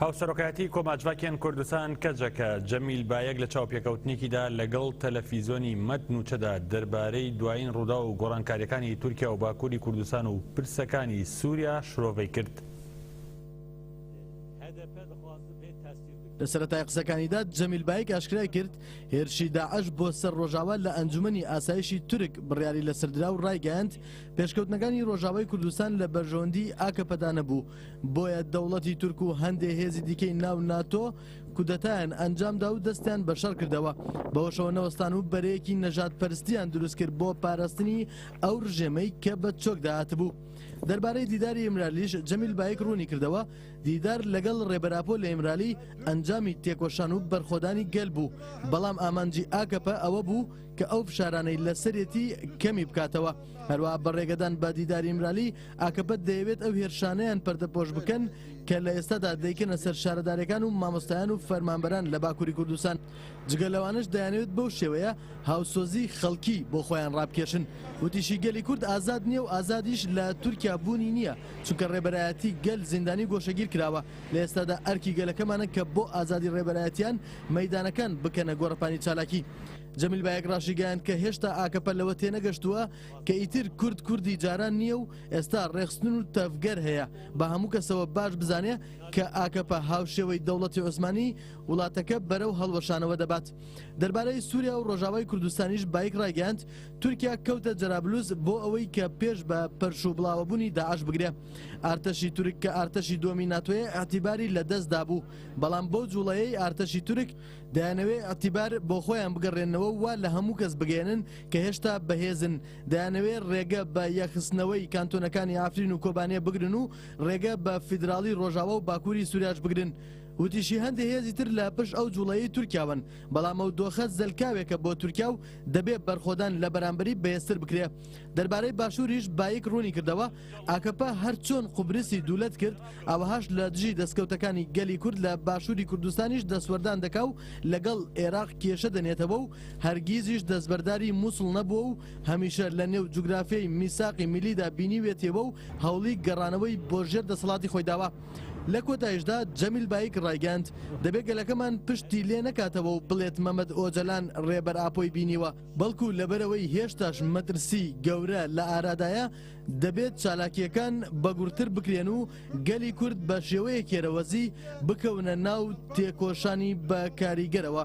هاوسەرۆکایەتی کۆماجڤاکێن کوردستان کەجەکە، جەمیل بایەک لە چاوپێکەوتنێکیدا لەگەڵ تەلەفیزۆنی مەد نوچەدا دەربارەی دوایین ڕووداو و گۆڕانکاریەکانی تورکیا و باکوری کوردستان و پرسەکانی سوریا شرۆڤەی کرد. لە سەرەتای قسەکانیدا جەمیل بایک ئاشکرای کرد، هێرشی داعش بۆ سەر ڕۆژاوا لە ئەنجومەنی ئاسایشی تورک بڕیاری لەسەردرا و ڕایگەیاند، پێشکەوتنەکانی ڕۆژاوای کوردستان لە بەرژەوەندیی ئاکەپەدا نەبوو، بۆیە دەوڵەتی تورک و هەندێ هێزی دیکەی ناو ناتۆ کودەتایان ئەنجامدا و دەستیان بە شەڕ کردەوە بەوەشەوە نەوەستان و بەرەیەکی نەژاد پەرستیان دروست کرد بۆ پاراستنی ئەو ڕژێمەی کە بە چۆکدا هاتبوو دەربارەی دیداری ئیمرالیش جەمیل بایک ڕوونی کردەوە دیدار لەگەڵ ڕێبەراپۆ لە ئیمرالی ئەنجامی تێکۆشان و بەرخۆدانی گەل بوو بەڵام ئامانجی ئاکەپە ئەوە بوو کە ئەو فشارانەی لەسەرێتی کەمی بکاتەوە هەروەها بە ڕێگەدان بە دیداری ئیمرالی، ئاکەپە دەیەوێت ئەو هێرشانەیان پەردەپۆش بکەن کە لە ئێستادا دەیکەنە سەر شارەدارەکان و مامۆستایان و فەرمانبەران لە باکوری کوردستان، جگە لەوانەش دەیانەوێت بەو شێوەیە هاوسۆزی خەڵکی بۆ خۆیان ڕابکێشن. وتیشی، گەلی کورد ئازاد نییە و ئازادیش لە تورکیا بوونی نییە، چونکە ڕێبەرایەتی گەل زیندانی و گۆشەگیر کراوە، لە ئێستادا ئەرکی گەلەکەمانە کە بۆ ئازادی ڕێبەرایەتیان مەیدانەکان بکەنە گۆڕەپانی چالاکی. جەمیل بایک راشیگەیاند کە هێشتا ئاکەپە لەوە تێنەگەشتووە کە ئیتر کورد کوردی جاران نییە و ئێستا رێخستن و تەڤگەر هەیە، با هەموو کەسەوە باش بزانێ کە ئاکەپە هاوشێوەی دەوڵەتی عوسمانی وڵاتەکە بەرەو هەڵوەشانەوە دەبات. دەربارەی سوریا و رۆژاوای کوردستانیش بایک رایگەیاند تورکیا کەوتە جەرابلوس بۆ ئەوەی کە پێش بە پەرش و بڵاوەبوونی داعش بگرێ. ئارتەشی تورک کە ئارتەشی دووەمی ناتۆیە ئیعتیباری لە دەست دابوو، بەڵام بەو جووڵەیەی ئارتەشی تورک، دەیانەوێ ئیعتیبار بۆخۆیان بگەڕێننەوە و وا لە هەموو کەس بگەیەنن کە هێشتا بەهێزن، دەیانەوێ ڕێگە بە یەکخستنەوەی کانتۆنەکانی عەفرین و کۆبانێ بگرن و ڕێگە بە فیدراڵی ڕۆژاوا و باکووری سوریاش بگرن. وتیشیهەندێ هێزی تر لە پشت ئەو جووڵەیەی تورکیاوەن، بەڵام ئەو دۆخە زەلکاوێکە بۆ تورکیا و دەبێ بەرخۆدان لە بەرامبەری بەهێزتر بکرێ. دەربارەی باشووریش بایک ڕوونیکردەوە، ئاکەپە هەر چۆن قوبرسی دوولەت کرد ئاوەهاش لە دژی دەسکەوتەکانی گەلی کورد لە باشووری کوردستانیش دەستوەردان دەکا و لەگەڵ ئێراق کێشە دەنێتەوە و هەرگیزیش دەستبەرداری موسڵ نەبووە و هەمیشە لە نێو جوگرافیای میساقی میلیدا بینیوێتیەوە و هەوڵی گەڕانەوەی بۆ ژێر دەسەڵاتی خۆی داوە. لە کۆتایشدا جەمیل بایک ڕایگەیاند، دەبێ گەلەکەمان پشتی لێ نەکاتەوە و بڵێت مەمەد ئۆجەلان ڕێبەر ئاپۆی بینیوە، بەڵکو لەبەرئەوەی هێشتاش مەترسی گەورە لە ئارادایە، دەبێت چالاکییەکان بەگوڕتر بکرێن و گەلی کورد بە شێوەیە کێرەوەزی بکەونە ناو تێکۆشانی بە کاریگەرەوە.